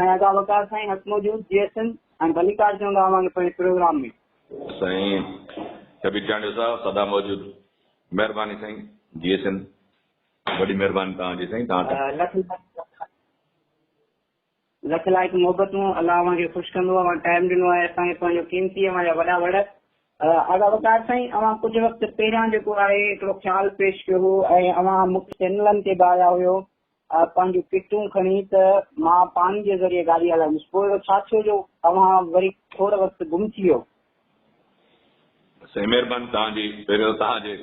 سائين ادا وقار سائين هت موجود G S M ۽ Mallikarjun Rao وانگي پڻي پروگرام ۾. سائين ڪبير چانڊيو صاحب سدا موجود مهرباني سائين جي ايس ايم وڏي مهرباني توهان جي سائين توهان تان. لک لک لائق محبتون الله اوهان کي خوش ڪندو اوهان ٽائيم ڏنو آهي اسان کي پنهنجو قيمتي اوهان جا وڏا وڙ. ادا وقار سائين اوهان ڪجهه وقت پهريان جيڪو آهي هڪڙو خيال پيش ڪيو هو ۽ اوهان مختلف چينلن تي به آيا هيو پنهنجون ڪٽون کڻي ته مان پاڻي جي ذريعي گاڏي هلائيندس. پوء اهڙو ڇا ٿيو جو اوهان وري ٿوري وقت گم ٿي ويو؟ سائين مهرباني توهان جي. پهريون توهان جي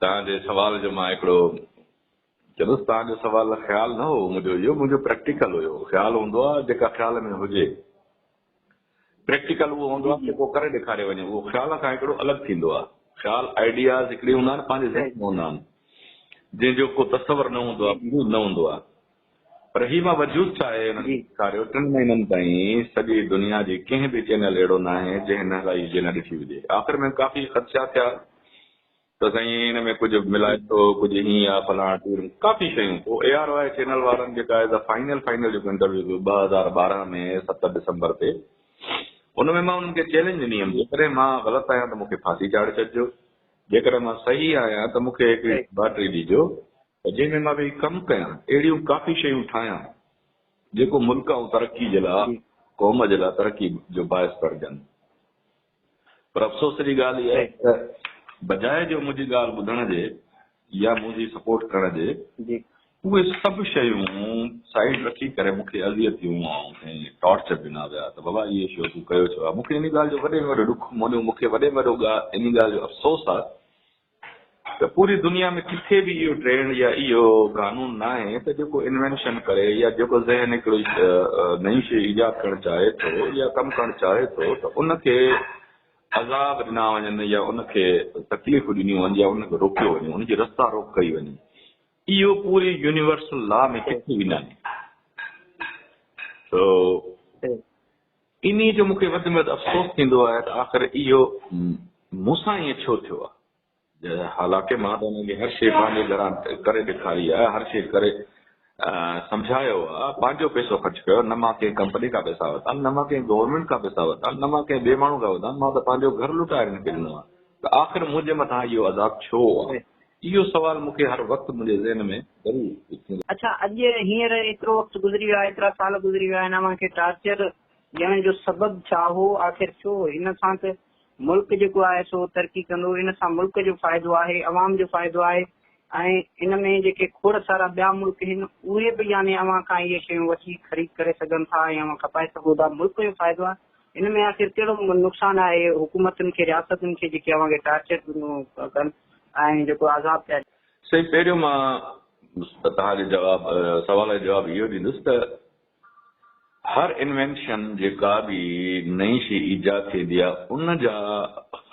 توهان جي سوال جو مان هڪڙو چندس توهان جو سوال خيال نه هو منهنجو اهو منهنجو پريڪٽيڪل هيو خيال هوندو آهي جيڪا خيال ۾ هجي. پريڪٽيڪل اهو هوندو آهي جيڪو ڪري ڏيکاريو وڃي اهو خيال کان هڪڙو الڳ ٿيندو آهي خيال آئيڊياز هڪڙي هوندا آهن پنهنجي ذهن ۾ هوندا آهن جنهن جو ڪو تصور نه هوندو آهي وجود نه هوندو آهي پر هي مان وجود ڇا آهي هن ڏيکاريو ٽن مهينن تائين سڄي دنيا جي ڪنهن به چينل اهڙو نه آهي جنهن نه هلائي جنهن نه ڏٺي هجي آخر ۾ ڪافي خدشا ٿيا ته سائين ان ۾ ڪجهه ملائي ٿو ڪجهه هيئن آ فلاڻ ٽيم ڪافي شيون پوء اي آر واء چينل وارن جيڪا آهي سا فائنل فائنل جيڪو انٽرويو ڪيو ٻه هزار ٻارهن ۾ ست ڊسمبر تي ان ۾ مان انهن کي چيلنج ڏني هيم جيڪڏهن مان غلط آهيان ته مون کي ڦاسي چاڙهي ڇڏجو جيڪڏهن مان صحيح آهيان ته مون کي هڪ بيٽري ڏجو جنهن ۾ مان ويهي ڪم ڪيان اهڙيون ڪافي شيون ٺاهيان جيڪو ملڪ ۽ ترقي جي لاء قوم جي لاء ترقي جو باعث بڻجن پر افسوس جي ڳالهه اها آهي ته بجاء جو منهنجي ڳالهه ٻڌڻ جي يا منهنجي سپورٽ ڪرڻ جي اهي سڀ شيون سائيڊ رکي ڪري مون کي اذيتيون ۽ ٽارچر ڏنا ويا ته بابا اهي شيون تون ڪيو ڇو آهي مون کي ان ڳالهه جو وڏي ۾ وڏو ڏک مونيو مون کي وڏي ۾ وڏو ان ڳالهه جو افسوس آهي ته پوري دنيا ۾ ڪٿي به اهو ٽرينڊ يا اهو قانون ناهي ته جيڪو انوينشن ڪري يا جيڪو ذهن هڪڙي نئين شيء ايجاد ڪرڻ چاهي ٿو يا ڪم ڪرڻ چاهي ٿو ته ان کي عذاب ڏنا وڃن يا ان کي تڪليفون ڏنيون وڃن يا ان کي روڪيو وڃي ان جي رستا روڪ ڪئي وڃي اهو پوري يونيورسل لا ۾ ڪٿي به ناهي انهيء جو مون کي وڌ ۾ وڌ افسوس ٿيندو آهي ته آخر اهو مون سان ائين ڇو ٿيو آهي. حالانڪه مان ته انهن کي هر شيء پنهنجي گهران ڪري ڏيکاري آهي، هر شيء ڪري سمجهايو آهي، پنهنجو پئسو خرچ ڪيو آهي، نه مان ڪنهن ڪمپني کان پئسا ورتا آهن، نه مان ڪنهن گورنمينٽ کان پئسا ورتا آهن، نه مان ڪنهن ٻئي ماڻهو کان ورتا آهن، مان ته پنهنجو گهر لٽائي هنن کي ڏنو آهي ته آخر منهنجي مٿان اهو عذاب ڇو آهي؟ اهو سوال مون کي هر وقت منهنجي ذهن ۾ ضرور اٿيندو آهي. اڇا اڄ هينئر ايترو وقت گذري ويو آهي، ايترا سال گذري ويا آهن، اوهان کي ٽارچر ڏيڻ جو سبب ڇا هو؟ آخر ڇو؟ ان سان ته ملڪ جيڪو آهي سو ترقي ڪندو، ان سان ملڪ جو فائدو آهي، عوام جو فائدو آهي ۽ ان ۾ جيڪي کوڙ سارا ٻيا ملڪ هن اهي به يعني اوهان کان اهي شيون وٺي خريد ڪري سگهن ٿا ۽ اوهان کپائي سگهو ٿا، ملڪ جو فائدو آهي، ان ۾ آخر ڪهڙو نقصان آهي حڪومتن کي، رياستن کي جيڪي اوهان کي ٽارچر ڪن. ۽ جيڪو عذاب ڪيا. سائين پهريون مان توهان جي جواب سوال جو جواب اهو ڏيندس ته هر انوينشن جيڪا به نئين شي ايجاد ٿيندي آهي ان جا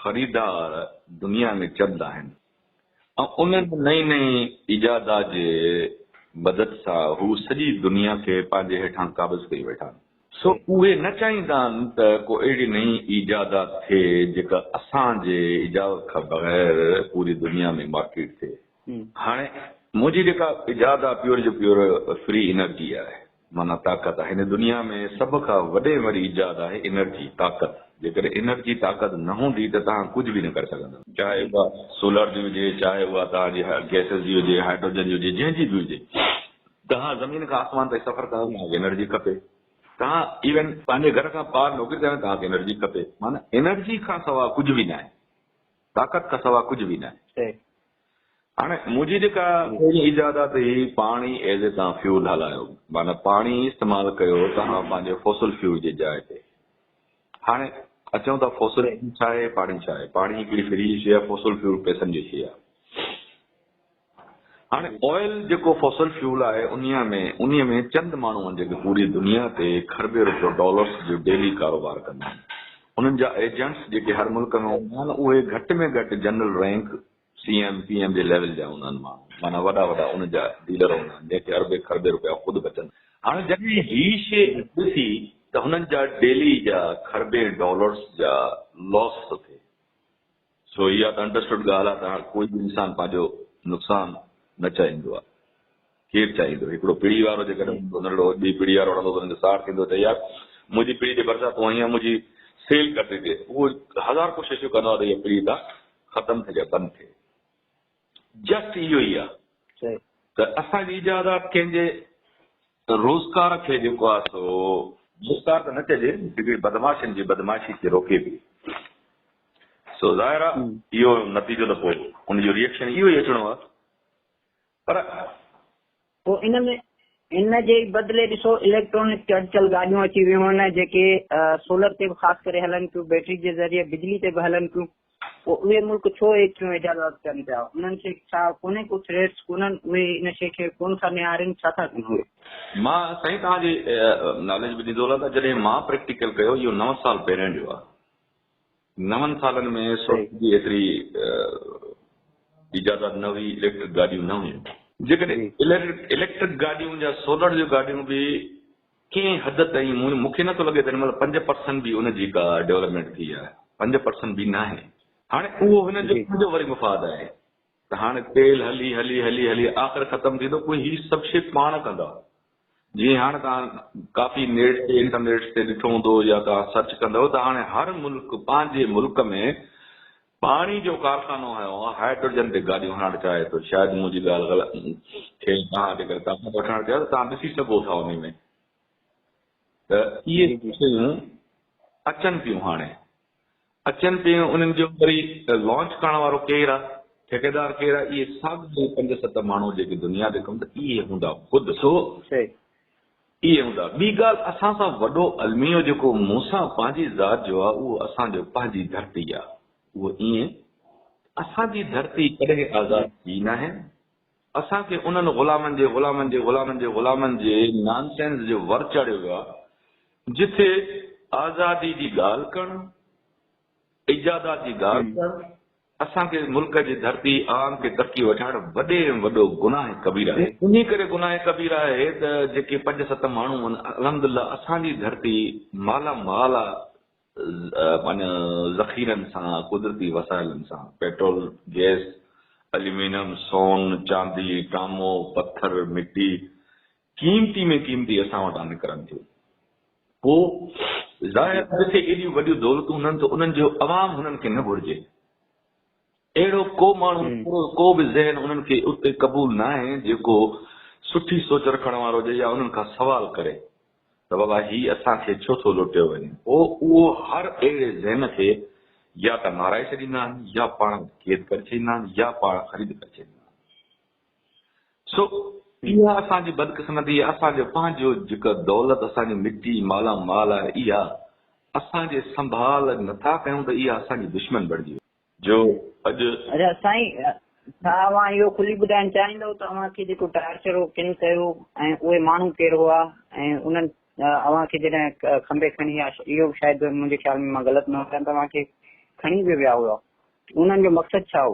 خريدار دنيا ۾ چند آهن ۽ ان نئين نئين ايجادات جي مدد سان هو سڄي دنيا کي پنهنجي هيٺان قابض ڪري ويٺا آهن سو اهي نه چاهيندا آهن ته ڪو اهڙي نئين ايجادات ٿئي جيڪا اسان جي اجازت کان بغير پوري دنيا ۾ مارڪيٽ ٿئي. هاڻي منهنجي جيڪا ايجاد آهي پيور جو پيور فري انرجي آهي معنيٰ طاقت آهي. هن دنيا ۾ سڀ کان وڏي ۽ وڏي ايجاد آهي انرجي، طاقت. جيڪڏهن انرجي، طاقت، نه هوندي ته توهان ڪجهه به نه ڪري سگهندؤ. چاهي اها سولر جي هجي، چاهي اها توهان جي گئسز جي هجي، هائڊروجن جي هجي، جنهن جي به هجي. توهان زمين کان آسمان تائين سفر ڪندا توهان کي انرجي کپي توهان ايون پنهنجي گهر کان ٻاهر نوڪري ڪندا توهان کي انرجي کپي معنيٰ انرجي کان سوا ڪجهه به ناهي طاقت کان سوا ڪجهه به ناهي هاڻي منهنجي جيڪا پهرين ايجادات هي پاڻي ايز اي توهان فيول هلايو معنيٰ پاڻي استعمال ڪيو توهان پنهنجي فوسل فيول جي جاء تي هاڻي اچون ٿا فوسل ڇا آهي پاڻي ڇا آهي پاڻي هڪڙي فري شي آهي فوسل فيول پئسن جي شي آهي هاڻي آئل جيڪو فوسل فيول آهي انهيء ۾ انهيء ۾ چند ماڻهو آهن جيڪي پوري دنيا تي کربين روپيو ڊالرس جو ڊيلي ڪاروبار ڪندا آهن انهن جا ايجنٽس جيڪي هر ملڪ ۾ هوندا آهن اهي گهٽ ۾ گهٽ general rank C M P M جي ليول جا هوندا آهن ماڻهو معنيٰ وڏا وڏا ان جا ڊيلر هوندا آهن جنهن کي اربين کربين روپيا خود بچن هاڻي جڏهن هي شيء گهٽ ٿي ته هنن جا ڊيلي جا کربين ڊالرس جا لاس ٿو ٿئي. سو اها ته انڊرسٽوڊ ڳالهه آهي ته هاڻ ڪوئي به انسان پنهنجو نقصان نه چاهيندو آهي. ڪير چاهيندو؟ هڪڙو پڙي وارو جيڪڏهن هوندو ننڍڙو ٻي پڙي وارو وڙهندو ته ان جو ساڙ ٿيندو ته يار منهنجي پڙي جي ڀرسان تون آهين يا منهنجي سيل ڪٽي ڏي. اهو هزار ڪوششون ڪندو آهي ته اها پڙي تان ختم ٿي جا بند ٿئي. جسٽ اهو ئي آهي ته اسان جي ايجادات ڪنهن جي روزگار کي جيڪو آهي سو روزگار ته نه چئجي هڪڙي بدمعاشن جي بدمعاشي کي روڪي پئي سو ظاهر آهي اهو نتيجو ته پوء ان جو ريئڪشن اهو ئي اچڻو آهي پر پوء ان ۾ ان جي ئي بدلي ڏسو اليڪٽرانڪ چڙچل گاڏيون اچي ويون آهن جيڪي سولر تي به خاص ڪري هلن ٿيون، بيٽري جي ذريعي بجلي تي به هلن ٿيون، پوء اهي ملڪ ڇو ايتريون ايجادات ڪن پيا، انهن کي ڇا ڪونهي ڪو ٿريٽس ڪونهن، اهي ان شيء کي ڪونه ٿا نهارين، ڇا ٿا ڪن اهي؟ مان سائين توهان جي ناليج به ڏيندو هلان ته جڏهن مان پريڪٽيڪل ڪيو اهو نو سال پهريان جو آهي. نون سالن ۾ سوچ جي ايتري ايجادات نه هئي، اليڪٽرڪ گاڏيون نه هيون. جيڪڏهن اليڪٽرڪ گاڏيون يا سولر جون گاڏيون به ڪنهن حد تائين مون کي نٿو لڳي ته هن مهل پنج پرسنٽ به ان جي ڪا ڊيولپمينٽ ٿي آهي، پنج پرسنٽ به ناهي. هاڻي اهو هن جو پنهنجو وري مفاد آهي. ته هاڻي تيل هلي هلي هلي هلي آخر ختم ٿيندو پوء هي سڀ شي پاڻ ڪندا جيئن هاڻي توهان ڪافي نيٽ تي انٽرنيٽس تي ڏٺو هوندو يا توهان سرچ ڪندو ته هاڻي هر ملڪ پنهنجي ملڪ ۾ پاڻي جو ڪارخانو هنيو آهي هائيڊروجن تي گاڏيون هلائڻ چاهي ٿو شايد منهنجي ڳالهه غلط کي توهان جيڪر ڪاپي وٺڻ چاهيو ته توهان ڏسي سگهو ٿا انهي ۾ ته اهي شيون اچن پيون هاڻي اچن پيون انهن جو وري لانچ ڪرڻ وارو ڪير آ ٺيڪيدار ڪير آ اهي ساڳيا پنج ست ماڻهو جيڪي دنيا تي ڪم ته اهي هوندا خود سو صحيح اهي هوندا ٻي ڳالهه اسان سان وڏو الميو جيڪو مون سان پنهنجي ذات جو آ اهو اسان جو پنهنجي ڌرتي آ اهو ائين اسان جي ڌرتي ڪڏهن آزاد ٿي ناهي اسان کي انهن غلامن جي غلامن جي غلامن جي غلامن جي نان سينس جي ور چاڙهيو ويو آهي جتي آزادي جي ڳالهه ڪرڻ ايجادات جي ڳالهه ڪرڻ اسان کي ملڪ جي ڌرتي عوام کي ترقي وٺائڻ وڏي ۾ وڏو گناهه ڪبير آهي انهي ڪري گناهه ڪبير آهي ته جيڪي پنج ست ماڻهو آهن الحمدلله اسان جي ڌرتي مالا مال آهي معنيٰ ذخيرن سان، قدرتي وسائلن سان، پيٽرول، گئس، اليومينم، سون، چاندي، ٽامو، پٿر، مٽي، قيمتي ۾ قيمتي اسان وٽان نڪرن ٿيون. پوء ظاهر آهي جتي ايڏيون وڏيون دولتون هونن ته انهن جو عوام هنن کي نه گهرجي. اهڙو ڪو ماڻهو اهڙو ڪو به ذهن انهن کي اتي قبول ناهي جيڪو سٺي سوچ رکڻ وارو هجي يا انهن کان سوال ڪري ته بابا هي اسان کي ڇو ٿو لوٽيو وڃي. پوء اهو هر اهڙي ذهن کي يا ته مارائي ڇڏيندا آهن يا پاڻ وٽ قيد ڪري ڇڏيندا آهن يا پاڻ خريد ڪري ڇڏيندا آهن. سو اها اسان جي بدقسمتي آهي اسان جو پنهنجو جيڪا دولت اسان جي مٽي مالا مال آهي اها اسان جي سنڀال نٿا ڪيون ته اها اسان جي دشمن بڻجي وئي. جو اڄ. اچا سائين ڇا اوهان اهو کلي ٻڌائڻ چاهيندؤ ته اوهان کي جيڪو ٽارچر اهو ڪن ڪيو ۽ اهي ماڻهو ڪير هئا ۽ انهن اوهان کي جڏهن کنڀي کڻي يا اهو به شايد منهنجي خيال ۾ مان غلط نه هجان ته اوهان کي کڻي به ويا هئا انهن جو مقصد ڇا هو؟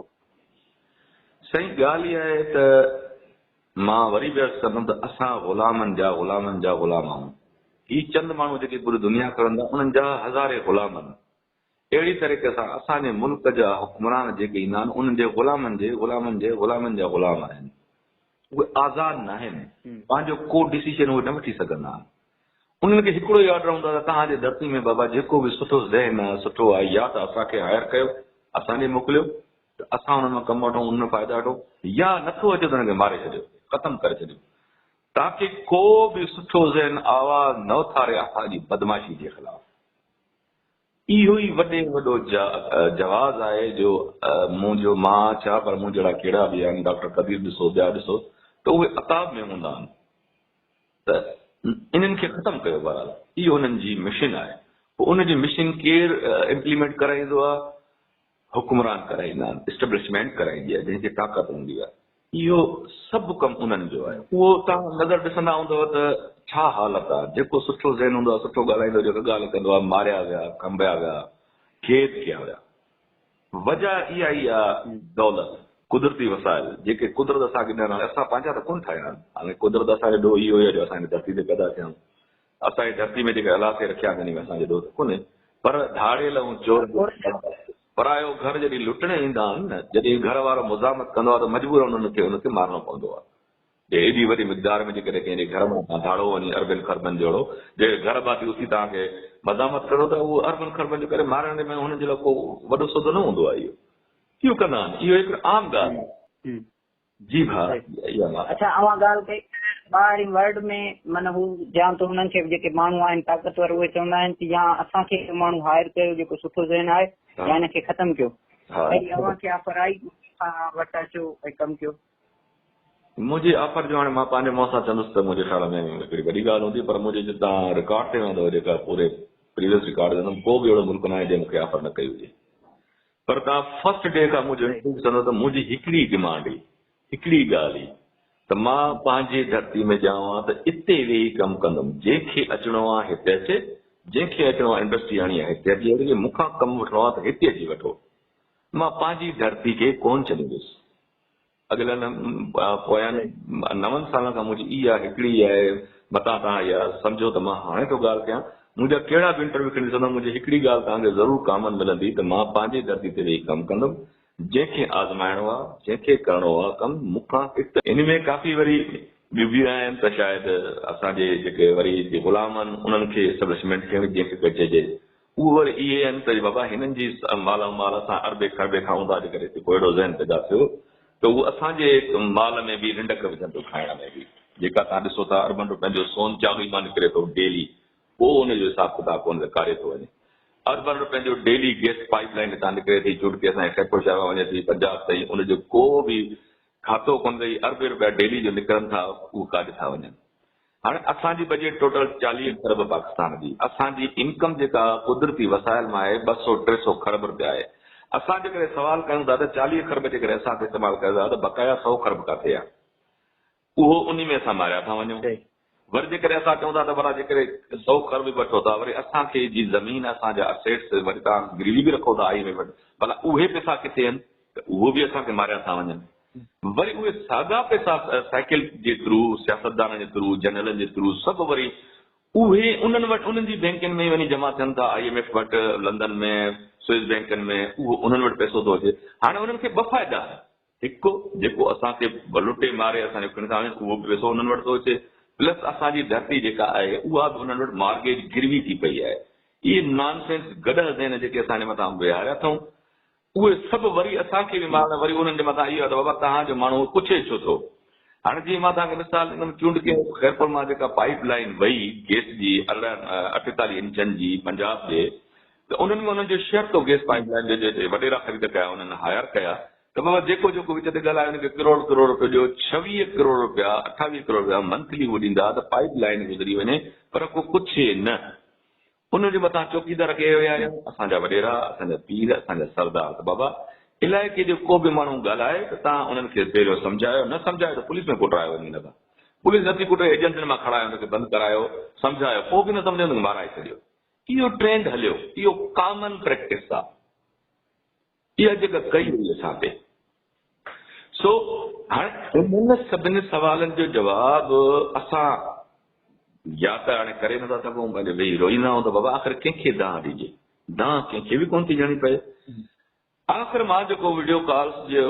سائين ڳالهه اها آهي ته مان وري به عرض ڪندم ته اسان غلامن جا غلامن جا غلام آهون هي چند ماڻهو جيڪي پوري دنيا کڻن ٿا انهن جا هزارين غلام آهن اهڙي طريقي سان اسان جي ملڪ جا حڪمران جيڪي ايندا آهن، انهن جي غلامن جي غلامن جي غلامن جا غلام آهن. اهي آزاد ناهن. پنهنجو ڪو ڊسيشن اهي نه وٺي سگهندا آهن. انهن کي هڪڙو ئي آرڊر هوندو آهي ته توهان جي ڌرتي ۾ بابا جيڪو به سٺو ذهن آهي، سٺو آهي يا ته اسان کي هائر ڪيو، اسان ڏي موڪليو ته اسان انهن مان ڪم وٺون، انهن مان فائدا وٺون يا نٿو اچي ته انهن کي ماري ڇڏيو، ختم ڪري ڇڏيو. تاڪه ڪو به سٺو ذهن آواز نه اٿاري اسان جي بدمعاشي جي خلاف. اهو ئي وڏي وڏو جواز آهي جو مون جو مان ڇا پر مون جهڙا ڪهڙا به يعني ڊاڪٽر قدير ڏسو ٻيا ڏسو ته اهي عتاب ۾ هوندا آهن ته انهن کي ختم ڪيو بهرحال اهو انهن جي مشن آهي پوء ان جي مشن ڪير امپليمينٽ ڪرائيندو آهي حڪمران ڪرائيندا آهن، اسٽيبلشمينٽ ڪرائيندي آهي، جنهن کي طاقت هوندي آهي. اهو سڀ ڪم انهن جو آهي. اهو توهان نظر ڏسندا هوندؤ ته ڇا حالت آهي. جيڪو سٺو ذهن هوندو آهي، سٺو ڳالهائيندو، جيڪو ڳالهه ڪندو آهي، ماريا ويا، کنڀيا ويا، قيد ڪيا ويا. وجهه اها ئي آهي دولت، قدرتي وسائل، جيڪي قدرت اسان کي ڏنل آهن. اسان پنهنجا ته ڪونه ٺاهيا آهن. حالانڪه قدرت اسان جو ڏوهه اهو ئي آهي جو اسان هن ڌرتي تي پيدا ٿيا آهيون. اسان جي ڌرتي ۾ جيڪي الاثي رکيا آهن، تن ۾ اسان جي ڏوهه ته ڪونهي، پر ڌاڙيل ۽ چور جي اولاد آهي. پرايو گهر جڏهن لٽڻ ايندا آهن نه، جڏهن گهر وارو مزاحمت ڪندو آهي ته مجبورن ان کي ان کي مارڻو پوندو آهي. جي ايڏي وڏي مقدار ۾ جيڪڏهن ڪنهن جي گهر مان توهان ڌاڙو وڃي اربين خربن جوڙو، جي گهر ڀاتي اٿي توهان کي مزاحمت ڪندو ته اهو اربن خربن جو ڪري مارڻ جي ۾ هنن جي لاء ڪو وڏو سوڌو نه هوندو آهي اهو. ڪيون ڪندا آهن، اهو هڪ عام ڳالهه آهي. جي ڀاء اها ڳالهه. اڇا اوهان ڳالهه ڪئي ته ٻاهرين ورلڊ ۾ من هو جيان ته هنن کي جيڪي ماڻهو آهن طاقتور اهي چوندا آهن ته يا اسان کي اهو ماڻهو هائر ڪيو جيڪو سٺو ذهن آهي يا هن کي ختم ڪيو ڪهڙي اوهان کي آفر آئي ته اسان وٽ اچو ۽ ڪم ڪيو. منهنجي آفر جو هاڻي مان پنهنجي منهن سان چوندس ته منهنجي خيال ۾ هڪڙي وڏي ڳالهه هوندي پر منهنجي جتان رڪارڊ تي ويندو جيڪا پوري پريويس رڪارڊ ويندم ڪو به اهڙو ملڪ ناهي جنهن مون کي آفر نه ڪئي هجي. پر توهان فرسٽ ڊي کان مون جوڻيٽنگ ڏسندو ته منهنجي هڪڙي ڊمانڊ هئي، هڪڙي ڳالهه هئي ته مان پنهنجي ڌرتي ۾ ڄائو ها ته اتي ويهي ڪم ڪندم، جنهن کي اچڻو آ هتي اچي، جنهن کي اچڻو آ انڊسٽري آڻي آ هتي اچي جيڪي مون کان ڪم وٺڻو آ ته هتي اچي وٺو، مان پنهنجي ڌرتي کي ڪونه ڇڏيندس. اڳلن ۽ پويان نون سالن کان منهنجي اي آء هڪڙي ئي آهي، متان توهان اها سمجهو ته مان هاڻي ٿو ڳالهه ڪيان، منهنجا ڪهڙا به انٽرويو کڻي ڏسندو منهنجي هڪڙي ڳالهه توهان کي ضرور ڪامن ملندي ته مان پنهنجي ڌرتي تي ويهي ڪم ڪندم، جنهن کي آزمائڻو آهي، جنهن کي ڪرڻو آهي ڪم مون کان هت. ان ۾ ڪافي وري ٻيون به آهن ته شايد اسان جي جيڪي وري غلام آهن انهن کي اسٽيبلشمينٽ کي به جنهن کي ڪجهي جي اهو وري اهي آهن ته بابا هنن جي مال ۽ مال سان اربين کربين کان اونداهه ڪري جيڪو اهڙو ذهن پيدا ٿيو ته اهو اسان جي مال ۾ به رنڊڪ وجهن ٿيو کائڻ ۾ به جيڪا توهان ڏسو ٿا اربن روپين جو سون چاٻي مان نڪري ٿو ڊيلي ڪو ان جو حساب ڪتاب ڪونه ته ڪاري ٿو وڃي اربن روپين جو ڊيلي گيس پائيپ لائين هتان نڪري ٿي جوڙ ڪي اسان خيرپور شهر مان وڃي ٿي پنجاب تائين ان جو ڪو به کاتو ڪونه اٿئي اربين روپيا ڊيلي جو نڪرن ٿا اهو ڪاڏ ٿا وڃن هاڻي اسان جي بجيٽ ٽوٽل چاليهه کرب پاڪستان جي اسان جي انڪم جيڪا قدرتي وسائل مان آهي ٻه سو ٽي سو کرب رپيا آهي اسان جيڪڏهن سوال ڪيون ٿا ته چاليهه کرب جيڪڏهن اسان استعمال ڪيو ٿا ته بقايا سو کرب ڪاٿي آهي اهو انهي ۾ اسان ماريا ٿا وڃون وري جيڪڏهن اسان چئون ٿا ته ورا جيڪڏهن سو کرب به وٺو ٿا وري اسان کي جي زمين اسان جا اسيٽس وري تان گروي به رکو ٿا آئي ايم ايف وٽ ڀلا اهي پيسا ڪٿي آهن ته اهو به اسان کي ماريا ٿا وڃن وري اهي ساڳا پئسا سائيڪل جي ٿرو، سياستدانن جي ٿرو، جنرلن جي ٿرو سڀ وري اهي انهن وٽ انهن جي بئنڪن ۾ ئي وڃي جمع ٿين ٿا، آئي ايم ايف وٽ، لندن ۾، سوئس بئنڪن ۾ اهو انهن وٽ پئسو ٿو اچي. هاڻي انهن کي ٻه فائدا آهن. هڪ جيڪو اسان کي لٽي ماري اسان جو کڻي ٿا وڃن اهو به پئسو انهن وٽ ٿو اچي پلس اسان جي ڌرتي جيڪا آهي اها به انهن وٽ مارگيج گروي ٿي پئي آهي. اهي نان سينس گڏهه ذهن جيڪي اسان جي مٿان ويهاريا اٿئون اهي سڀ وري اسان کي به مارڻ وري انهن جي مٿان اهو ته بابا توهان جو ماڻهو پڇي ڇو ٿو. هاڻي جيئن مان توهان کي مثال ڏنم چونڊڪي خيرپور مان جيڪا پائيپ لائين وئي گيس جي ارڙهن اٺيتاليهه انچن جي پنجاب ڏي ته انهن ۾ انهن جو شيئر ٿو گيس پائيپ لائين جو جو هتي وڏيرا خريد ڪيا انهن هاير ڪيا ته بابا جيڪو جيڪو وچ تي ڳالهايو ان کي ڪروڙ ڪروڙ روپيو ڏيو ڇويهه ڪروڙ روپيا اٺاويهه ڪروڙ روپيا منٿلي هو ڏيندا ته پائيپ لائين گذري وڃي پر ڪو پڇي نه ان جي مٿان چوڪيدار ڪيئي ويا آهن اسان جا وڏيرا، اسان جا پير، اسان جا سردار ته بابا علائقي جو ڪو به ماڻهو ڳالهائي ته تان انهن کي پهريون سمجهايو نه سمجهايو ته پوليس ۾ ڪٽرايو وڃي نه ته پوليس نه ٿي ڪٽي ايجنسين مان کڻايو ان کي بند ڪرايو سمجهايو پوء به نه سمجهيو ته مارائي ڇڏيو اهو ٽرينڊ هليو اهو ڪامن پريڪٽس آهي. اها جيڪا ڪئي وئي اسان تي. سو هاڻي انهن سڀني سوالن جو جواب اسان يا ته هاڻي ڪري نٿا سگهون پنهنجو ويهي روئيندا آهيون ته بابا آخر ڪنهن کي دانهن ڏجي. دانهن ڪنهن کي به ڪونه ٿي ڏيڻي پئي. آخر مان جيڪو وڊيو ڪالز جي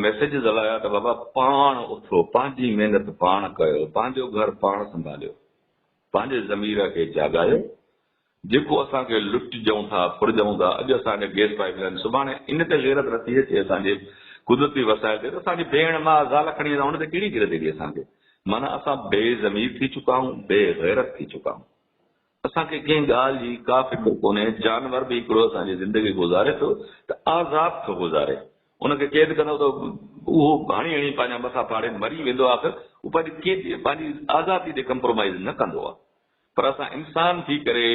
ميسيجز هلايا ته بابا پاڻ اٿو، پنهنجي محنت پاڻ ڪيو، پنهنجو گهر پاڻ سنڀاليو، پنهنجي ضمير کي جاڳايو، جيڪو اسان کي لٽجئون ٿا ڦرجئون ٿا اڄ اسان کي گيس پائيپ لائين سڀاڻي ان تي غيرت نٿي اچي اسان جي قدرتي وسائل تي ته اسان جي ڀيڻ ماء زال کڻي ويندا ان تي ڪهڙي غيرت ايندي اسان کي معنيٰ اسان بي ضمير ٿي چڪا آهيون بي غيرت ٿي چڪا آهيون اسان کي ڪنهن ڳالهه جي ڪا فڪر ڪونهي جانور به هڪڙو اسان جي زندگي گذاري ٿو ته آزاد ٿو گذاري ان کي قيد ڪندو ته اهو هڻي هڻي پنهنجا مٿا ڦاڙي مري ويندو آخر اهو پنهنجي قيد پنهنجي آزادي تي ڪمپرومائيز نه ڪندو آهي پر اسان انسان ٿي ڪري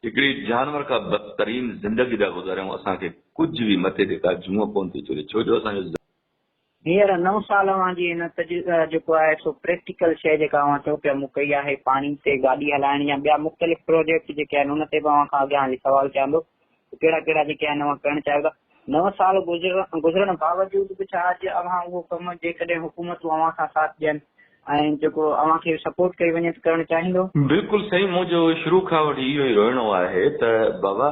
هڪڙي جانور کان بدترين زندگي ٿا گذاريون، اسان کي ڪجهه به مٿي تي ڪا جونء ڪونه ٿي چڙهي ڇو جو اسان جو. هينئر نو سال اوهان جي هن تجربي جيڪو آهي سو پريڪٽيڪل شيء جيڪا اوهان چئو پيا مون ڪئي آهي پاڻي تي گاڏي هلائڻ يا ٻيا مختلف پروجيڪٽ جيڪي آهن ان تي به اوهان کان اڳيان هلي سوال ڪيان ٿو ڪهڙا ڪهڙا جيڪي آهن اوهان ڪرڻ چاهيو ٿا. نو سال گذرڻ باوجود به ڇا اڄ اوهان اهو ڪم جيڪڏهن حڪومتون اوهان سان ساٿ ڏين ۽ جيڪو اوهان کي سپورٽ ڪئي وڃي ته ڪرڻ چاهيندو؟ بلڪل سائين منهنجو شروع کان وٺي اهو ئي روئڻو آهي ته بابا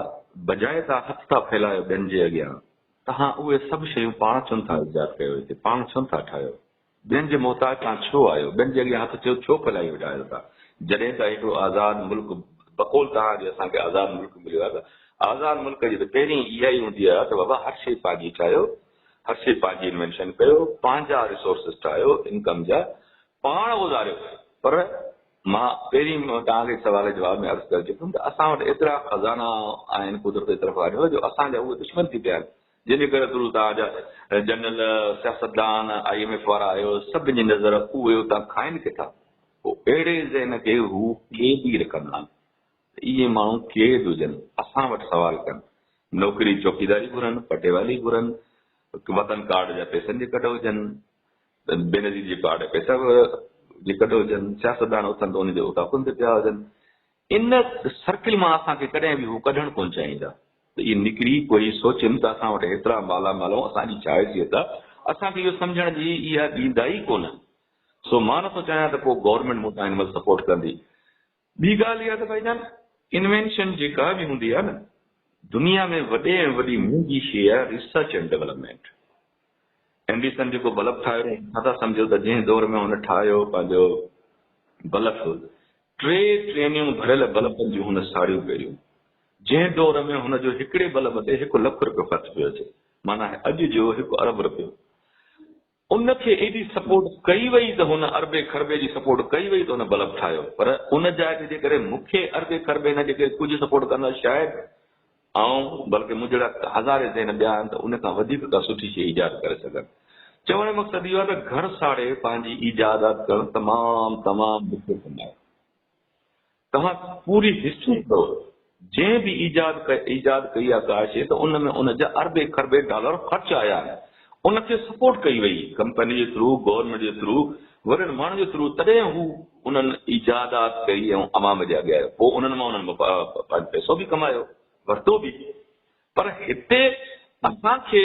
بجاء توهان هٿ ٿا ڦهلايو ٻين جي اڳيان توهان اهي سڀ شيون پاڻ ڇونه ٿا ايجاد ڪيو هتي پاڻ ڇونه ٿا ٺاهيو ٻين جي محتاج تان ڇو آهيو؟ ٻين جي اڳيان هٿ ٿيو ڇو ڦهلائي ويٺاهيو ٿا؟ جڏهن ته هڪڙو آزاد ملڪ بقول توهان جي اسان کي آزاد ملڪ مليو آهي ته آزاد ملڪ جي ته پهرين اها ئي هوندي آهي ته بابا هر شيء پنهنجي ٺاهيو، هر شيء پنهنجي انوينشن ڪيو، پنهنجا ريسورسز ٺاهيو انڪم جا، پاڻ گذاريو پر مان پهرين توهان کي سوال جي جواب ۾ عرض ڪري چڪم ته اسان وٽ ايترا خزانا آهن قدرت جي طرفان جو اسان جا اهي دشمن ٿي پيا آهن. جنهن جي ڪري ڪرو تان جا جنرل، سياستدان، آء ايم ايف وارا آيو، سڀ جي نظر اهي اتان کائن ڪٿا؟ پوء اهڙي ذهن کي هو قيدي رکندا آهن ته اهي ماڻهو قيد هجن، اسان وٽ سوال ڪن، نوڪري چوڪيداري گهرن، پٽيوالي گهرن، وطن ڪارڊ جا پئسن جي ڪڍ هجن، بينظير جي ڪارڊ جا پئسا جي ڪڍ هجن، سياستدان اٿن ته ان جي اتاقن تي پيا هجن، ان سرڪل مان اسان کي ڪڏهن به هو ڪڍڻ ڪونه چاهيندا ته اهي نڪري پوء هي سوچين ته اسان وٽ هيترا مالا مال ۽ اسان جي ڇا حيثيت آهي، اسان کي اهو سمجهڻ جي اها ڏيندا ئي ڪونه. سو مان نٿو چاهيان ته ڪو گورنمينٽ مون تان هن مهل سپورٽ ڪندي. ٻي ڳالهه اها ته ڀائي جان انوينشن جيڪا به هوندي آهي نه دنيا ۾ وڏي ۽ وڏي مهنگي شيء آهي ريسرچ اينڊ ڊيولپمينٽ. اينڊيسن جيڪو بلب ٺاهيو ڇا ٿا سمجهو ته جنهن دور ۾ هن ٺاهيو پنهنجو بلف ٽي ٽرينيون ڀريل بلبن جون هن ساڙيون پيريون، جنهن دور ۾ هن جو هڪڙي بلب تي هڪ لک رپيو خرچ پيو اچي، معنيٰ اڄ جو هڪ ارب رپيو. ان کي ايڏي سپورٽ ڪئي وئي ته هن اربي کربي جي سپورٽ ڪئي وئي ته هن بلب ٺاهيو، پر ان جاء تي جيڪڏهن مون کي اربي کربي نه جيڪي ڪجهه سپورٽ ڪندا شايد آئون بلڪه مون جهڙا هزارين ذهن ٻيا آهن ته ان کان وڌيڪ ڪا سٺي شيء ايجاد ڪري سگهن. چوڻ جو مقصد اهو آهي ته گهر ساڙي پنهنجي ايجادات ڪرڻ تمام تمام ڏکيو ڪم آهي. توهان پوري هسٽري پڙهو جنهن به ايجاد ايجاد ڪئي آهي ڪا شيء ته ان ۾ ان جا اربين کربين ڊالر خرچ آيا آهن. ان کي سپورٽ ڪئي وئي ڪمپني جي ٿرو گورنمينٽ جي ٿرو وڏن ماڻهن جي ٿرو تڏهن هو انهن ايجادات ڪئي ۽ عوام جي اڳيان آيو پوء انهن مان انهن پنهنجو پئسو به ڪمايو ورتو به پر هتي اسان کي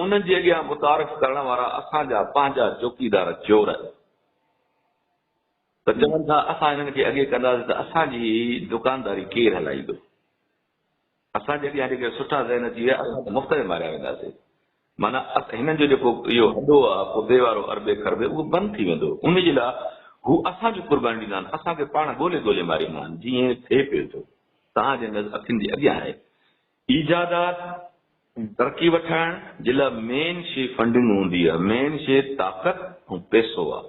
انهن جي اڳيان متعارف ڪرڻ وارا اسان جا پنهنجا چوڪيدار چور آهن ته چون ٿا اسان انهن کي اڳي ڪنداسين ته اسان جي هي دڪانداري ڪير هلائيندو اسان جي اڳيان جيڪي سٺا ذهن اچي ويا اسان ته مفت ۾ ماريا وينداسين. معنيٰ هنن جو جيڪو اهو هڏو آ پوتي وارو اربي کربي اهو بند ٿي ويندو. انهي جي لاء هو اسان کي قرباني ڏيندا آهن. اسان کي پاڻ ڳولي ڳولي ماريندا آهن. جيئن ٿئي پيو ٿو. توهان جي نظر اکين جي اڳيان آهي. ايجادات ترقي وٺائڻ جي لاء مين شي فنڊنگ هوندي آ. مين شي طاقت ۽ پيسو آ.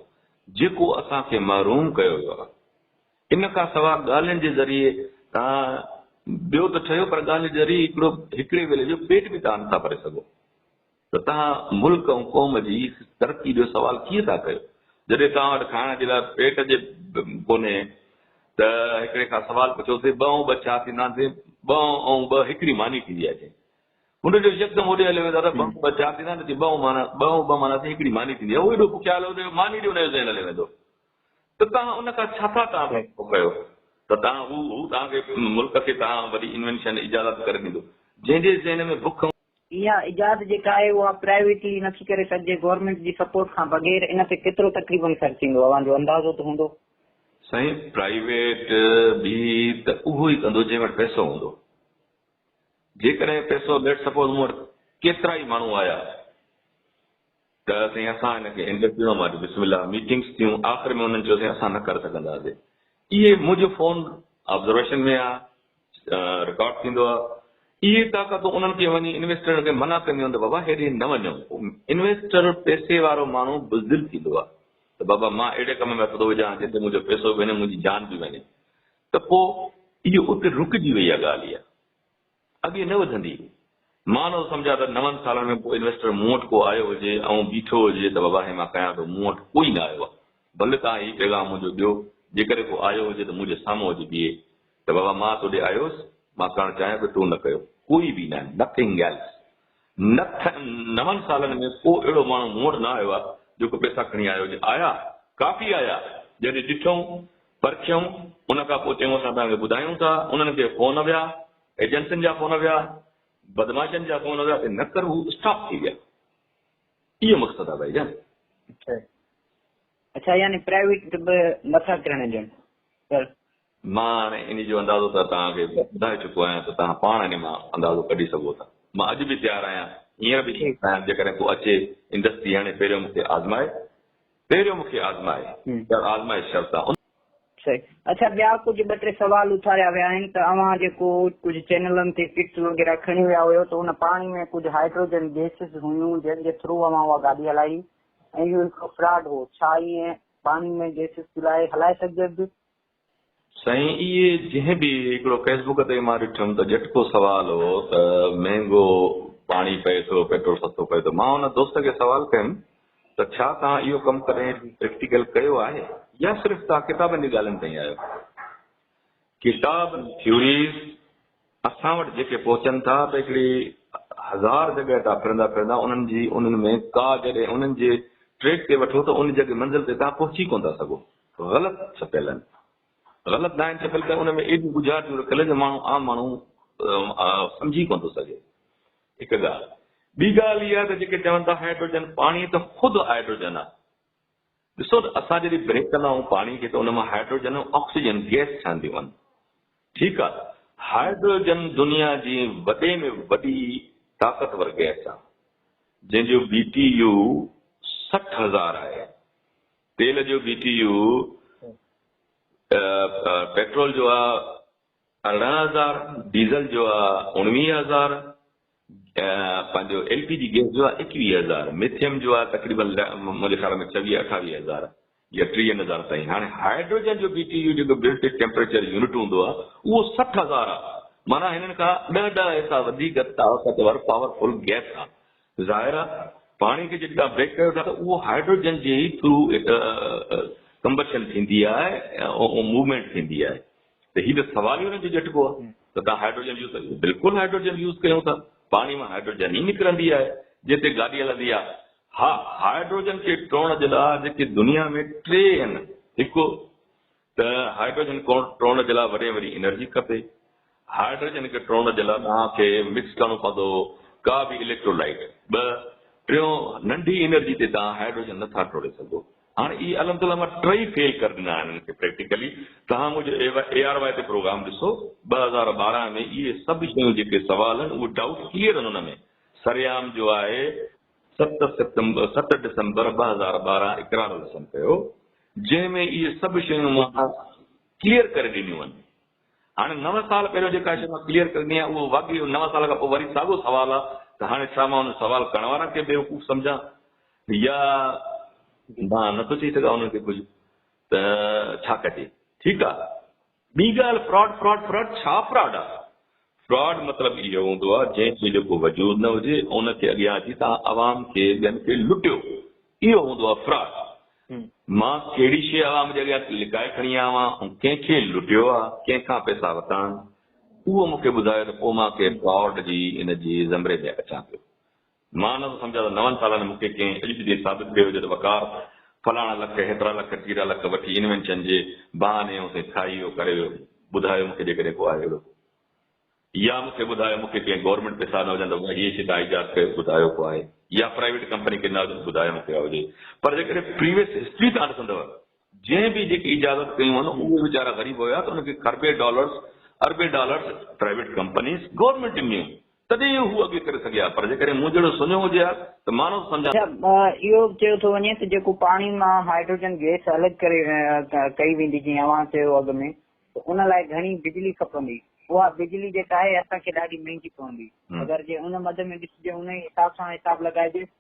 جيڪو اسان کي محروم ڪيو ويو آ. ان کان سواء ڳالهين جي ذريعي توهان ڏيو ته ٺهيو پر ڳالهين جي ذريعي هڪڙو هڪڙي ويلي جو پيٽ به توهان نٿا ڀري سگهو ته توهان ملڪ ۽ قوم جي ترقي جو سوال ڪيئن ٿا ڪيو جڏهن توهان وٽ کائڻ جي لاء پيٽ جي ڪونهي ته هڪڙي کان سوال پڇو ته ٻه ۽ ٻه ڇا ٿيندا ته ٻه ۽ ٻه هڪڙي ماني ٿيندي آهي چئي هن جو يڪدم هوڏي هليو ويو دادا ٻه ۽ ٻه ڇا ٿيندا ته ٻه مان ٻه ۽ ٻه مانا ٿي هڪڙي ماني ٿيندي آهي هو ايڏو بکيا هليو ويو ماني ڏي هن جو ذهن هليو ويندو ته توهان ان کان ڇا ٿا ڪا ڀيٽ ٿو ڪيو ته توهان هو هو توهان کي ملڪ کي توهان وڏي انوينشن ايجادات ڪري ڏيندو جنهن جي ذهن ۾ بک هوندي. اها ايجاد جيڪا آهي اها پرائيويٽلي نٿي ڪري سگهجي گورنمينٽ جي سپورٽ کان بغير ان تي ڪيترو تقريبن خرچ ايندو اوهان جو اندازو ته هوندو. سائين پرائيويٽ به ته اهو ئي ڪندو جنهن وٽ پئسو هوندو جيڪڏهن پئسو ليٽس سپوز مون وٽ ڪيترا ئي ماڻهو آيا. ته سائين اسان هن کي هن ڏکڻ مان بسم الله ميٽنگس ٿيون آخر ۾ انهن چيو سائين اسان نه ڪري سگهنداسين اهي منهنجو فون آبزرويشن ۾ آ رڪارڊ ٿيندو آ اهي طاقتون انهن کي وڃي انويسٽرن کي منع ڪنديون ته بابا هيڏي نه وڃو انويسٽر پيسي وارو ماڻهو بزدل ٿيندو آ ته بابا مان اهڙي ڪم ۾ هٿ ٿو وجهان جنهن تي منهنجو پيسو به وڃي منهنجي جان به وڃي ته پوء اهو اتي رڪجي وئي آ ڳالهه اها اڳي نه وڌندي هئي. مان نو سمجهان ته نون سالن ۾ ڪو انويسٽر مون وٽ ڪو آيو هجي ۽ بيٺو هجي ته وواهي مان ڪيان ٿو مون وٽ ڪوئي نه آيو آهي. ڀل توهان هي پيغام منهنجو ڏيو جيڪڏهن ڪو آيو هجي ته منهنجي سامهون اچي بيهي ته بابا مان توڏي آيو هوس مان ڪرڻ چاهيان پيو تو نه ڪيو ڪوئي به نه Nothing else. نڪ ۽ نون سالن ۾ ڪو اهڙو ماڻهو مون وٽ نه آيو آهي، جيڪو پئسا کڻي آيو هجي. آيا، ڪافي آيا. جڏهن ڏٺئون، پرکيئون، ان کان پوء چيائون اسان توهان کي ٻڌايون ٿا. انهن کي فون ويا، ايجنسين جا فون ويا، بدمعاشن جا فون ويا ته نڪر هو اسٽاپ ٿي ويا. اهو مقصد آهي ڀائي جان. اڇا، اڇا يعني پرائيويٽ به نٿا ڪرڻ ڏين. مان هاڻي انهي جو اندازو ته توهان کي ٻڌائي چڪو آهيان ته توهان پاڻ انهي مان اندازو ڪڍي سگهو ٿا. مان اڄ به تيار آهيان، هينئر به تيار آهيان جيڪڏهن ڪو اچي ۽ دستي هڻي پهريون مون کي آزمائي، پهريون مون کي آزمائي، پر آزمائش شرط سان. ان. صحيح. اڇا ٻيا ڪجهه ٻه ٽي سوال اٿاريا ويا آهن ته اوهان جيڪو ڪجهه چينلن تي ڪٽس وغيره کڻي ويا هيو ته ان پاڻي ۾ ڪجهه هائيڊروجن گيسز هيون جن جي ٿرو اوهان اها گاڏي هلائي هئي ۽ اهو هڪڙو فراڊ هو ڇا ائين پاڻي ۾ گيسز پلائي هلائي سگهجي ٿي سائين اهي جنهن به هڪڙو فيسبوڪ تي مان ڏٺم ته ڄٽڪو سوال هو ته مهنگو پاڻي پئي ٿو پيٽرول سستو پئي ٿو مان ان دوست کي سوال ڪيم ته ڇا توهان اهو ڪم ڪڏهن پريڪٽيڪل ڪيو آهي يا صرف توهان ڪتابن جي ڳالهين تائين آهيو ڪتاب ٿيوريز اسان وٽ جيڪي پهچن ٿا ته هڪڙي هزار جڳهه تان ڦرندا ڦرندا انهن جي انهن ۾ ڪا جڏهن انهن جي ٽريڪ تي وٺو ته ان جڳهه منزل تي توهان پهچي ڪونه ٿا سگهو غلط ڇپيل آهن. غلط ناهن ڇپيل ته ان ۾ ايڏيون ڳجهارتيون رکيل آهن جو ماڻهو عام ماڻهو سمجهي ڪونه ٿو سگهي. هڪ ڳالهه. ٻي ڳالهه اها ته جيڪي چون ٿا هائڊروجن پاڻي ته خود هائڊروجن آهي. ڏسو ته اسان جڏهن بريڪ ڪندا آهيون پاڻي کي ته ان مان هائڊروجن ۽ آڪسيجن گئس ٺهنديون آهن. ٺيڪ آهي. هائڊروجن دنيا جي وڏي ۾ وڏي طاقتور گئس آهي. جنهن جو بي ٽي يو سٺ هزار آهي. تيل جو بي ٽي يو پيٽرول جو آ ارڙهن هزار، ڊيزل جو آ اوڻويهه هزار ۽ پنهنجو ايل پي جي گيس جو آ ايڪويهه هزار، ميٿيم جو آ تقريبن منهنجي خيال ۾ ڇويهه اٺاويهه هزار يا ٽيهن هزار تائين. هاڻي هائيڊروجن جو بي ٽي يو جيڪو بلٽ ان ٽيمپريچر يونٽ هوندو آ اهو سٺ هزار آ معنيٰ هنن کان ڏهه ڏهه حصا وڌيڪ طاقتور، پاور فل، گيس آ. ظاهر آهي پاڻي کي جڏهن توهان بيڪ ڪريو ٿا ته اهو هائڊروجن جي ئي ٿرو ڪمبشن ٿيندي آهي ۽ موومينٽ ٿيندي آهي ته هي ته سوال ئي ان جو ڄٽبو آهي ته توهان هائڊروجن يوز ڪريو بلڪل هائڊروجن يوز ڪيون ٿا پاڻي مان هائڊروجن ئي نڪرندي آهي جنهن تي گاڏي هلندي آهي ها هائڊروجن کي ٽوڙڻ جي لاء جيڪي دنيا ۾ ٽي آهن هڪ ته هائڊروجن کي ٽوڙڻ جي لاء وري وري انرجي کپي. هائڊروجن کي ٽوڙڻ جي لاء توهان کي مڪس ڪرڻو پوندو ڪا به اليڪٽرولائيٽ. ٻه، ٽيون، ننڍي انرجي تي توهان هائڊروجن نه ٿا ٽوڙي سگهو. هاڻي اهي الحمد الله مان ٽئي فيل ڪري ڏنا آهن انهن کي پريڪٽيڪلي. توهان منهنجو اي آر واء تي پروگرام ڏسو. ٻه هزار ٻارهن ۾ اهي سڀ شيون جيڪي سوال آهن اهي ڊائوٽ ڪليئر آهن ان ۾ سرعام جو آهي. ست سيپٽمبر ست ڊسمبر ٻه هزار ٻارهن اقرار الحسن ڪيو جنهن ۾ اهي سڀ شيون مان ڪليئر ڪري ڏنيون آهن. هاڻي نو سال پهريون جيڪا شيء مان ڪليئر ڪري ڏني آهي اهو واقعي اهو نو سال کان پوء وري ساڳو سوال آهي ته هاڻي ڇا مان ان سوال ڪرڻ وارن کي بيوقوف سمجهان يا مان نٿو چئي سگهان انهن کي ڪجهه ته ڇا ڪجي. ٺيڪ آهي. ٻي ڳالهه فراڊ فراڊ فراڊ ڇا فراڊ آ؟ فراڊ مطلب اهو هوندو آ جنهن کي جو ڪو وجود نه هجي ان کي اڳيان اچي توهان عوام کي ٻين کي لٽيو اهو هوندو آ فراڊ مان ڪهڙي شي عوام جي اڳيان لڪائي کڻي آيو آهيان ۽ ڪنهن کي لٽيو آ ڪنهن کان پئسا ورتا آهن اهو مون کي ٻڌايو ته پوء مان ڪنهن فراڊ جي ان جي زمري ۾ اچان پيو مان نه ٿو سمجهان ته نون سالن ۾ مون کي ڪنهن اڄ جي ڏينهن ثابت ڪيو هجي ته وقار فلاڻا لک، هيترا لک، ٽيرا لک وٺي انوينشن جي بهاني يون سين کائي ويو ڪري ويو. ٻڌايو مون کي جيڪڏهن ڪو آهي اهڙو. يا مون کي ٻڌايو مون کي ڪنهن گورنمينٽ پئسا نه هجن ته اها هيء شيء تان ايجاد ڪيو ٻڌايو ڪو آهي يا پرائيويٽ ڪمپني کي نه هجن ٻڌايو مون کي اها هجي پر جيڪڏهن پريويس هسٽري تان ڏسندؤ جنهن به جيڪي اجازت ڪيون هن اهي ويچارا غريب هيا ته ان کي کربين ڊالرز اربين ڊالرز پرائيويٽ ڪمپنيز گورنمينٽ ڏنيون تڏهن ئي هو اڳي ڪري سگهيا پر جيڪڏهن مون جهڙو سڃو هجي ها ته مان نه سمجهان ته اهو به چيو ٿو وڃي ته جيڪو پاڻي مان هائيڊروجن گئس الڳ ڪري ڪئي ويندي جيئن اوهان چيو اڳ ۾ ته ان لاء گهڻي بجلي کپندي اها بجلي جيڪا آهي اسان کي ڏاڍي مهنگي پوندي اگر جي ان مد ۾ ڏسجي ان ئي حساب سان حساب لڳائجي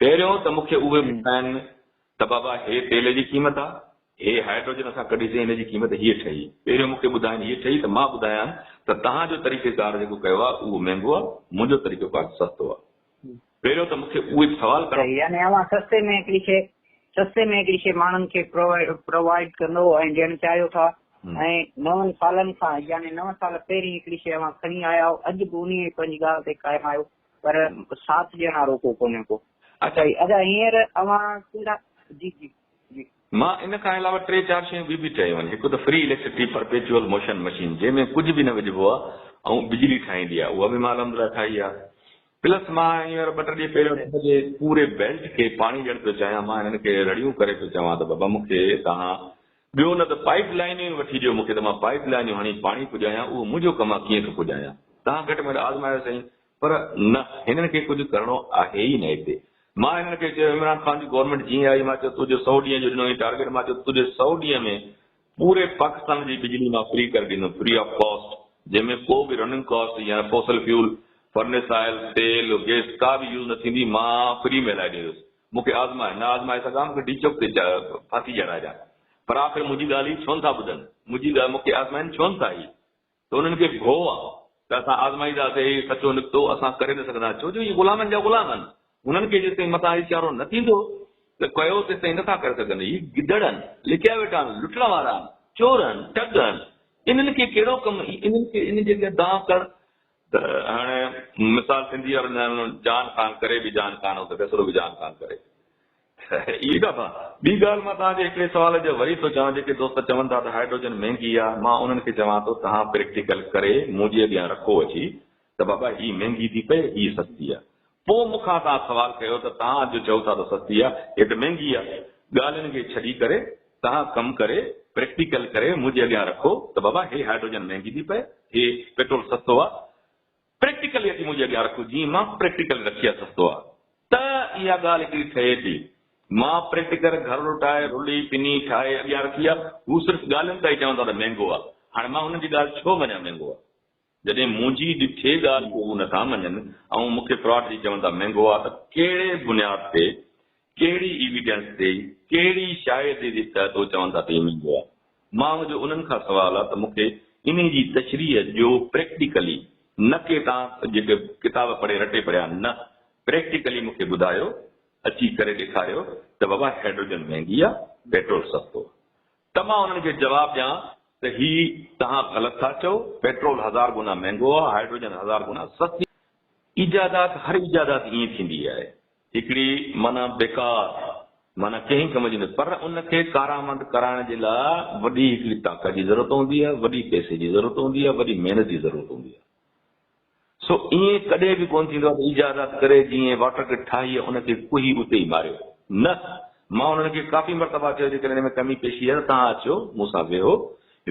پهريون ته مونکي اهي ٻڌائين ته بابا هي تيل جي قيمت آ، هي هائيڊروجن اسان ڪڍيسين هن جي قيمت هيء ٺهي، پهريون مونکي ٻڌائين هيء ٺهي ته مان ٻڌايان ته تهان جو طريقي ڪار جيڪو ڪيو آ اهو مهنگو آ، منهنجو طريقو ڪار ته سستو آ. پهريون ته مونکي اهي به سوال ڪرڻا. صحيح يعني اوهان سستي ۾ هڪڙي شيء سستي ۾ هڪڙي شيء ماڻهن کي پرووائيڊ ڪندو ۽ ڏيڻ چاهيو ٿا ۽ نون سالن کان يعني نو سال پهرين هڪڙي شيء اوهان کڻي آيا آهيو اڄ به انهيء پنهنجي ڳالهه تي قائم آهيو. پر سات ڄڻا آھو ڪو ڪونھي ڪو. اچا جي ادا ھينئر اوھان ڪھڙا جي جي جي. مان ان کان علاوه ٽي چار شيون ٻيون به چيون آھن ھڪ ته free electricity perpetual motion machine جنھن ۾ ڪجھ به نه وجھبو آ ۽ بجلي ٺاھيندي آ اھا به مان الحمدلله ٺاھي آ پلس مان ھينئر ٻه ٽي ڏينھن پھريون ته سڄي پوري بيلٽ کي پاڻي ڏيڻ پيو چاھيان مان ھنن کي رڙيون ڪري پيو چوان ته بابا مون کي توھان ٻيو نه ته پائيپ لائينيون ئي وٺي ڏيو مون کي ته مان پائيپ لائينيون هڻي پاڻي پڄايان، اهو منهنجو ڪم آهي ڪيئن ٿو پڄايان. تان گهٽ ۾ گهٽ آزمايو سائين. پر نه هنن کي ڪجهه ڪرڻو آهي ئي نه هتي. مان هنن کي چيو عمران خان جي گورنمينٽ جيئن آئي مان چيو تو جو سؤ ڏينهن جو ڏنو هئين ٽارگيٽ مان چيو تو جي سؤ ڏينهن ۾ پوري پاڪستان جي بجلي مان فري ڪري ڏيندم فري آف ڪاسٽ جنهن ۾ ڪو به رننگ ڪاسٽ يا فوسل فيول فرنس آئل تيل گيس ڪا به يوز نه ٿيندي مان فري ۾ هلائي ڏيندس مون کي آزماء، نه آزمائي سگهان، مون کي ڊيچوڪ تي ڦاسي چڙهائجان، پر آخر منهنجي ڳالهه هي ڇو نه ٿا ٻڌن، منهنجي ڳالهه مون کي آزمائين ڇو نه ٿا هي ته انهن کي ڀو آ ته اسان آزمائينداسي هي سچو نڪتو اسان ڪري نه سگهندا ڇو جو هي غلامن جا غلام آهن هنن کي جيستائين متان اشارو نه ٿيندو ته ڪيو تيستائين نه ٿا ڪري سگهن هي گدڙ آهن لڪيا ويٺا آهن لٽڻ وارا آهن چور آهن ٺڳ آهن انهن کي ڪهڙو ڪم انهن کي انهن جي اڳيان دانهن ڪرڻ ته هاڻي مثال سنڌي يا ورنڌايل جان خان ڪري به جان خان هو ته ڪيسرو به جان خان ڪري ته اهي ڪا ٿا. ٻي ڳالهه مان توهان جي هڪڙي سوال جو وري ٿو چوان جيڪي دوست چون ٿا ته هائيڊروجن مهنگي آهي مان انهن کي چوان ٿو توهان پريڪٽيڪل ڪري مون جي اڳيان رکو اچي ته بابا هي مهنگي ٿي پئي هي سستي آهي پوء مون کان تان سوال ڪيو ته تان اڄ چئو ٿا ته سستي آ هي ته مهنگي آ ڳالهين کي ڇڏي ڪري تان ڪم ڪري پريڪٽيڪل ڪري منهنجي اڳيان رکو ته بابا هي هائيڊروجن مهنگي ٿي پئي هي پيٽرول سستو آ پريڪٽيڪلي اچي منهنجي اڳيان رکو جيئن مان پريڪٽيڪلي رکي آ سستو آ ته اها ڳالهه هڪڙي ٺهي ٿي مان پريڪٽيڪل گهر لٽائي رلي پني ٺاهي اڳيان رکي آ هو صرف ڳالهين تائين چون ٿا ته مهنگو آ هاڻي مان هنن جي ڳالهه ڇو مڃان مهنگو آ. جڏهن منهنجي ڏٺي ڳالهه کي هو نٿا مڃن ۽ مون کي فراڊ چئي چون ٿا مهنگو آ ته ڪهڙي بنياد تي ڪهڙي ايويڊنس تي ڪهڙي شاهدي جي تحت هو چون ٿا ته هي مهنگو آ مان جو انهن کان سوال آ ته مون کي انهي جي تشريح ڏيو پريڪٽيڪلي نه ڪي توهان جيڪي ڪتاب پڙهي رٽي پڙهيا آهن نه پريڪٽيڪلي مون کي ٻڌايو اچي ڪري ڏيکاريو ته بابا هيڊروجن مهنگي آ پيٽرول سستو آ ته مان انهن کي جواب ڏيان ته هي توهان غلط ٿا چئو، پيٽرول هزار گنا مهنگو آهي، هائيڊروجن هزار گنا سستي آهي. ايجادات هر ايجادات ائين ٿيندي آهي. هڪڙي معنيٰ بيڪار، معنيٰ ڪنهن ڪم جي نه، پر ان کي ڪارآمد ڪرائڻ جي لاء وڏي هڪڙي طاقت جي ضرورت هوندي آهي، وڏي پئسي جي ضرورت هوندي آهي، وڏي محنت جي ضرورت هوندي آهي. سو ائين ڪڏهن به ڪونه ٿيندو ته ايجادات ڪري جيئن واٽر ڪٽ ٺاهي ۽ ان کي ڪوهي اتي ئي ماريو. نه، مان انهن کي ڪافي مرتبا چيو جيڪڏهن ان ۾ ڪمي پيشي آهي ته توهان اچو، مون سان ويهو،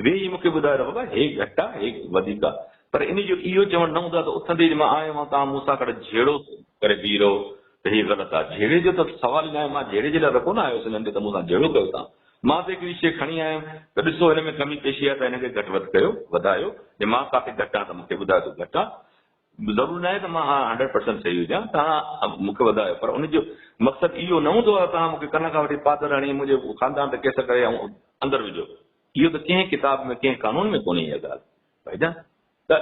ويهي مون کي ٻڌايو ته بابا هي گهٽ آ، هي وڌيڪ آ. پر انهي جو اهو چوڻ نه هوندو آ ته اٿندي ئي جو مان آيو آهيان توهان مون سان گڏ جهيڙو ڪري بيهي رهو ته هي غلط آ. جهيڙي جو ته سوال ئي ناهي، مان جهيڙي جي لاء ته ڪونه آيو هوس انهن ڏي ته مون سان جهيڙو ڪيو توهان. مان به هڪڙي شيء کڻي آيم ته ڏسو هن ۾ ڪمي پيشي آهي ته هن کي گهٽ وڌ ڪيو، وڌايو، جي مان ڪاٿي گهٽ آهيان ته مون کي ٻڌايو ته گهٽ آهيان. ضرور ناهي ته مان هاڻ هنڊريڊ پرسنٽ صحيح هجان توهان مون کي وڌايو پر ان جو مقصد اهو نه هوندو آهي توهان مون کي ڪن کان وٺي پادر هڻي منهنجي خاندان تي ڪيس ڪري ۽ اندر وجهو. اهو ته ڪنهن ڪتاب ۾ ڪنهن قانون ۾ ڪونهي اها ڳالهه ڀائيجان. ته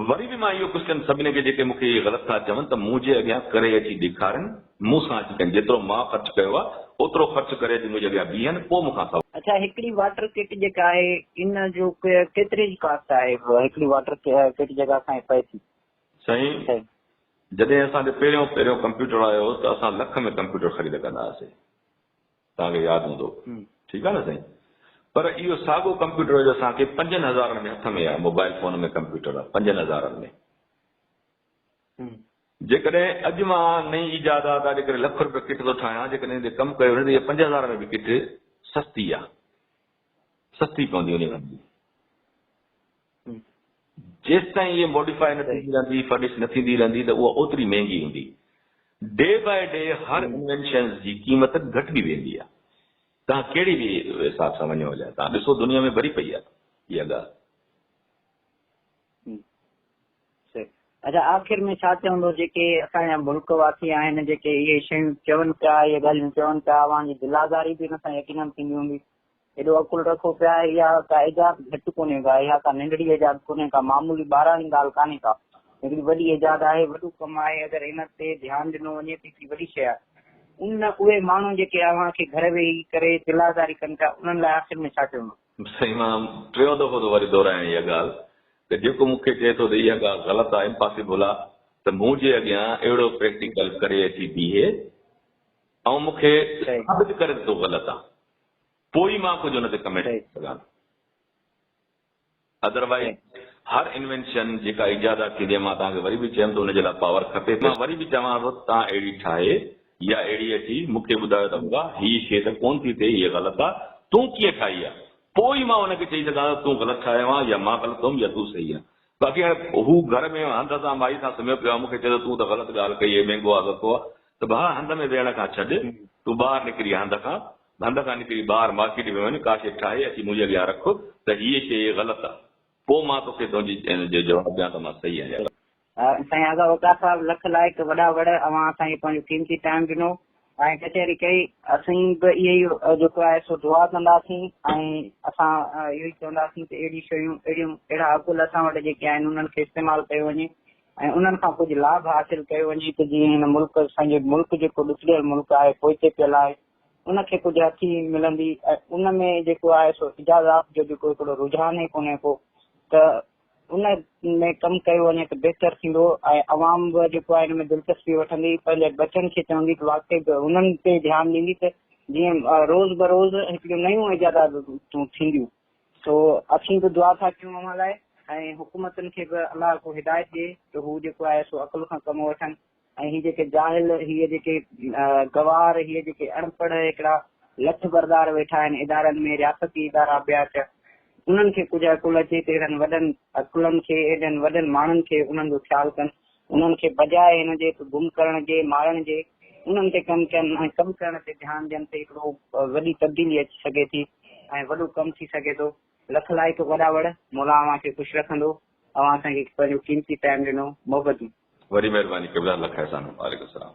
وري به مان اهو ڪجهه ڪن سڀني کي جيڪي مون کي اهي غلط ٿا چون ته منهنجي اڳيان ڪري اچي ڏيکارين مون سان اچي ڪن جيترو مان خرچ ڪيو آهي اوترو خرچ ڪري اچي منهنجي اڳيان بيهن پوء مون کان سوال اڇا هڪڙي واٽر ڪٽ جيڪا آهي ان جو ڪيتري جي ڪاسٽ آهي هڪڙي واٽر ڪٽ جيڪا اسان کي پئي ٿي. سائين جڏهن اسان تي پهريون پهريون ڪمپيوٽر آيو ته اسان لک ۾ ڪمپيوٽر خريد ڪندا هئاسي توهان کي ياد هوندو ٺيڪ آهي نه سائين پر اهو ساڳو ڪمپيوٽر جو اسان کي پنجن هزارن ۾ هٿ ۾ آهي موبائل فون ۾ ڪمپيوٽر پنجن هزارن ۾ جيڪڏهن اڄ مان نئين ايجادات آ جيڪڏهن لک روپيه ڪٽ ٿو ٺاهيان جيڪڏهن تي ڪم ڪيو وڃي ته پنج هزار ۾ به ڪٽ سستي آ سستي پوندي وڃي جيستائين اهي موڊيفاء نه ٿيندي رهندي، فرنش نه ٿيندي رهندي ته اها اوتري مهنگي هوندي. ڊي باء ڊي هر انوينشنز جي قيمت گهٽبي ويندي آهي. توهان ڪهڙي به حساب سان وڃو جا توهان ڏسو دنيا ۾ ڀري پئي آهي اها ڳالهه. اچا آخر ۾ ڇا چوندو جيڪي اسان جا ملڪ واسي آهن جيڪي اهي شيون چون پيا اهي ڳالهيون چون پيا اوهان جي دل آزاري به ان سان يقينن ٿيندي هوندي ايڏو عقل رکو پيا، اها ڪا ايجاد گهٽ ڪونهي ڪا، اها ڪا ننڍڙي ايجاد ڪونهي ڪا، معمولي ٻاراڻي ڳالهه ڪانهي ڪا، هڪڙي وڏي ايجاد آهي، وڏو ڪم آهي، اگر ان تي ڌيان ڏنو وڃي ته هڪڙي وڏي شيء آهي. ان اهي ماڻهو جيڪي اوهان کي گهر ويهي ڪري دلآزاري ڪن پيا، انهن لاء آخر ۾ ڇا چوندو؟ سائين مان ٽيون دفعو ٿو وري دهرائيان اها ڳالهه ته جيڪو مون کي چئي ٿو ته اها ڳالهه غلط آهي، امپاسيبل آهي ته مون جي اڳيان اهڙو پريڪٽيڪل ڪري اچي بيهي ۽ مون کي ثابت ڪري ته تون غلط آهين. پوء ئي مان ڪجهه ان تي ڪمينٽ ڪري سگهان ٿو. اڌروائيز هر انوينشن جيڪا ايجادات ٿيندي آهي مان توهان کي وري به چيم ته ان جي لاء پاور کپي ٿي. مان وري به چوان ٿو ته توهان اهڙي ٺاهي يا اهڙي اچي مون کي ٻڌايو ته ابا هي شي ته ڪونه ٿي ٿئي هيء غلط آهي تون ڪيئن ٺاهي آهي پوء ئي مان ان کي چئي سگهان ٿو ته تون غلط ٺاهيو آهين يا مان غلط هئم يا تون صحيح آهين. باقي هاڻي هو گهر ۾ هنڌ سان مائي سان سمهيو پيو آهي مون کي چئي ٿو تون ته غلط ڳالهه ڪئي هيء مينگو آ سڪو آ ته ڀاء هنڌ ۾ ويهڻ کان ڇڏ، تون ٻاهر نڪري هنڌ کان، هنڌ کان نڪري ٻاهر مارڪيٽ ۾ وڃ، ڪا شيء ٺاهي اچي منهنجي اڳيان رک ته هيء شيء غلط آ، پوء مان توکي تنهنجي ان جو جواب ڏيان ته مان صحيح آهيان يا غلط. سائين آغا وقار صاحب لک لائق وڏا وڙ اوهان اسان کي پنهنجو قيمتي ٽائيم ڏنو ۽ ڪچهري ڪئي. اسين به اهي ئي جيڪو آهي سو دعا ڪنداسين ۽ اسان اهو ئي چونداسين ته اهڙيون شيون اهڙيون اهڙا اگل اسان وٽ جيڪي آهن انهن کي استعمال ڪيو وڃي ۽ انهن کان ڪجهه لاڀ حاصل ڪيو وڃي ته جيئن هن ملڪ اسانجو ملڪ جيڪو ڏسجيل ملڪ آهي پوئتي پيل آهي ان کي ڪجهه هٿي ملندي ۽ ان ۾ جيڪو آهي سو اجازات جو جيڪو هڪڙو رجحان ئي ڪونهي ڪو ته ان ۾ ڪم ڪيو وڃي ته بهتر ٿيندو ۽ عوام به جيڪو آهي ان ۾ دلچسپي وٺندي پنهنجي بچن کي چوندي ته واقعي انهن تي ڌيان ڏيندي ته جيئن روز بروز هڪڙيون نيون ايجادات تون ٿينديون سو اسين به دعا ٿا ڪيون اوهان لاء ۽ حڪومتن کي به الله ڪو هدايت ڏي ته هو جيڪو آهي سو عقل کان ڪم وٺن ۽ هي جيڪي جاهل هي جيڪي گوار هي جيڪي اڻپڙهه هڪڙا لٺ بردار ويٺا آهن ادارن ۾ رياستي ادارا ٻيا چ انهن کي ڪجهه عقل اچي ته اهڙن وڏن عقلن کي اهڙن وڏن ماڻهن کي انهن جو خيال ڪن انهن کي بجاء ان جي ته گم ڪرڻ جي، مارڻ جي، انهن تي ڪم ڪن ۽ ڪم ڪرڻ تي ڌيان ڏين ته هڪڙو وڏي تبديلي اچي سگهي ٿي ۽ وڏو ڪم ٿي سگهي ٿو. لک لائق وڏا وڙ. مولا اوهان کي خوش رکندو. اوهان اسان کي پنهنجو قيمتي ٽائيم ڏنو. محبتون. وڏي مهرباني قبلا لک احسان. وعليڪم السلام.